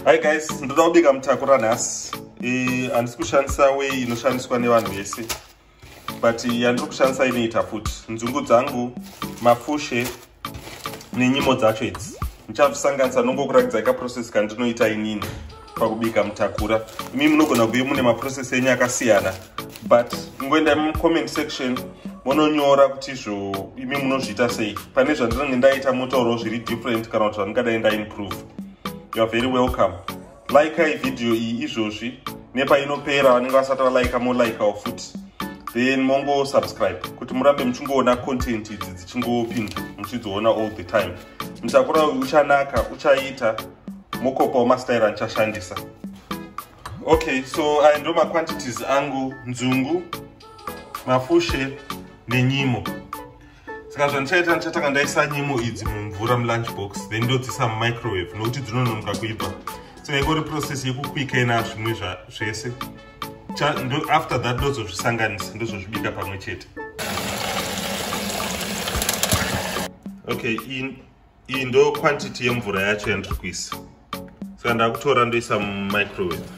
hi guys ndoda kubika mutakura nhasi handisi kushandisa wei inoshandiswa nevanhu vese but yandiri kushandisa inoita futi nzungu dzangu mafushe nenyimo dzacho idzi ndichazvisanganisa nongokuratidzai kaprocess kandinoita inini pakubika mutakura imi munogona kuve mune maprocess enyu akasiyana but ingoenda mucomment section mononyora kuti izvo imi munozviita sei pane zvandinenge ndaita motaurawo zviri different kana kuti zvandingadai ndaimprove youare very welcome laikai vhidhiyo iyi izvozvi nepainopera vanenge vasati valaika molaikawo futi then mongo subscribe kuti murambe muchingoona content idzi dzichingopinda muchidziona all the time mutakura uyu uchanaka uchaita mokopawo mastaira andichashandisa okay so aya ndo maquantities angu nzungu mafushe nenyimo saka zvandichaita ndichatanga ndaisa nyimo idzi mumvura mulunch box then ndodzisa mumicrowave nokuti dzinononoka kuibva saka ikori process yekukwika ina zvimwe zvese after that ndozozvisanganisa ndozozvibika pamwe chete okay in iyi ndo quantity yemvura yacho yandiri kuisa saka ndakutora ndoisa mumicrowave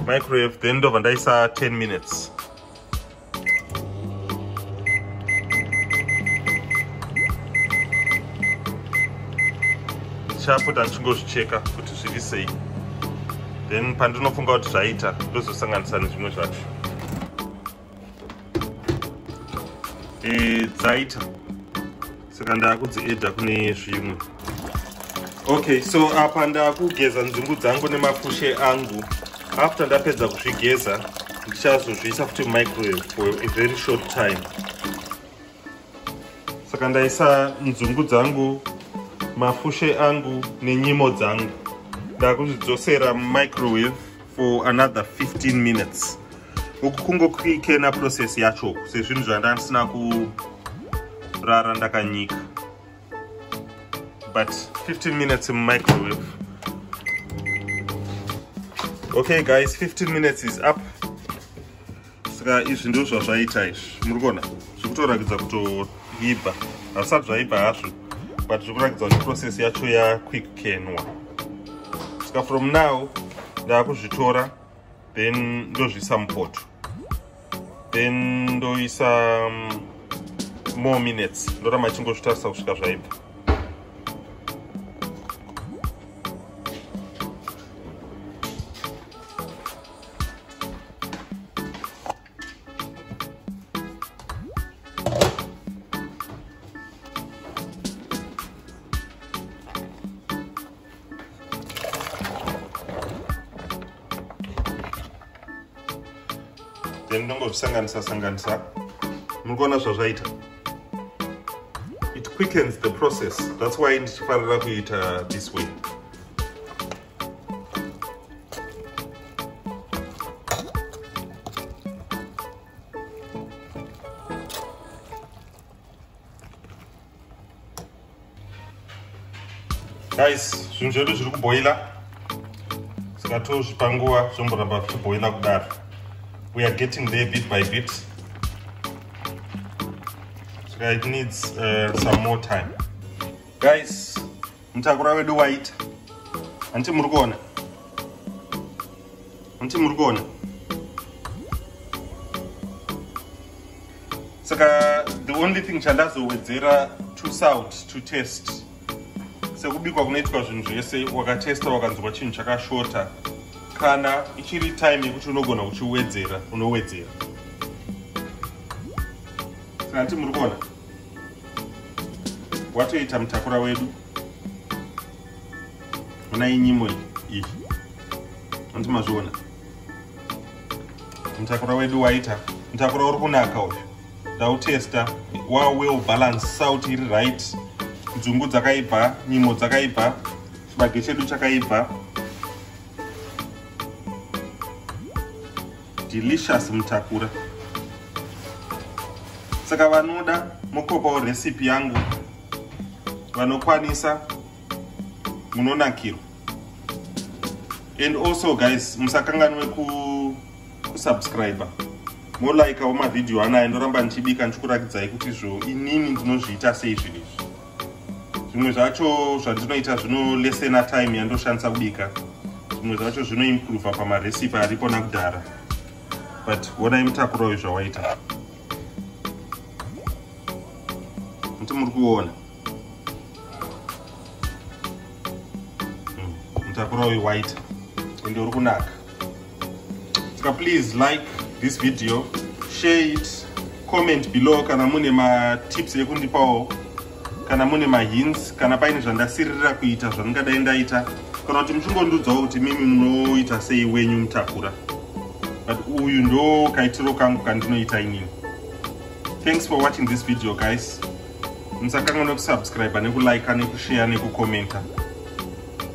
microwave then ndobva ndaisa 10 minutes ndichapota ndichingozvicheka kuti zviri sei then pandinofunga kuti zvaita ndozosanganisa nezvimwe zvacho eh, dzaita saka ndaakudziedha kune zvimwe okay so apa ndakugeza nzungu dzangu nemafushe angu after ndapedza kuzvigeza ndichazozviisa futi microwave for a very short time saka ndaisa nzungu dzangu mafushe angu nenyimo dzangu ndakuzvidzosera mumicrowave for another 15 minutes uku kungokuikena process yacho sezvinhu zvandandisina kurara ndakanyika but 15 minutes mumicrowave okay guys 15 minutes is up saka izvi ndizvo zvazvaita izvi muri kuona zviri kutorakidza kutoibva hazvisati zvaibva hazvo but zviri kurakidza kuti process yacho yaquickkenwa saka from now ndaakuzvitora then ndozviisa mupoto then ndoisa um, more minutes ndoramba chingozvitarisa kusvika zvaibva then ndongozvisanganisa sanganisa muri kuona zvazvaita it quickens the process that's why ndichifarira kuita this way guys zvinhu zvedu zviri kuboila zvikatozvipa nguva zvomboramba zvichiboila kudaro we are getting there bit by bit so it needs uh, some more time guys mutakura wedu waita hanti muri kuona hanti muri kuona saka the only thing chandazowedzera to salt to test sekubikwa kunoitwa zvinhu zvese wakatesta wakanzwa chinhu chakashota kana ichiri time yekuti unogona uchiwedzera unowedzera saka hanti muri kuona watoita mutakura wedu ona inyimo iyi anti mazviona mutakura wedu waita mutakura uri kunaka uyu ndautesta wa well balance south iri right dzungu dzakaibva nyimo dzakaibva chibage chedu chakaibva delicious mutakura saka vanoda mokopawo recipe yangu vanokwanisa munonakirwa and also guys musakanganwe kusubscriber molikeawo mavhidhiyo anaya ndoramba ndichibika ndichikuratidzai kuti zvo inini ndinozviita sei zvinhu izvi zvimwe zvacho zvandinoita zvinolesena time yandoshandisa kubika zvimwe zvacho zvinoimprova pamarecipe aripo nakudhara but wonai mutakuro uyu zvawaita muti muri kuona hmm, mutakuro uyu waita ende uri kunaka saka please like this video share it comment below kana mune matips ekundipawo kana mune mahints kana paine zvandasiririra kuita zvandingadai ndaita kana kuti muchingondiudzawo kuti mimi munoita sei wenyu mutakura but uyu ndo kaitiro kangu kandinoita inini thanks for watching this video guys musakanganwe kusubscribe nekulike nekushare nekucomenta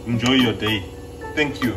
enjoy your day Thank you.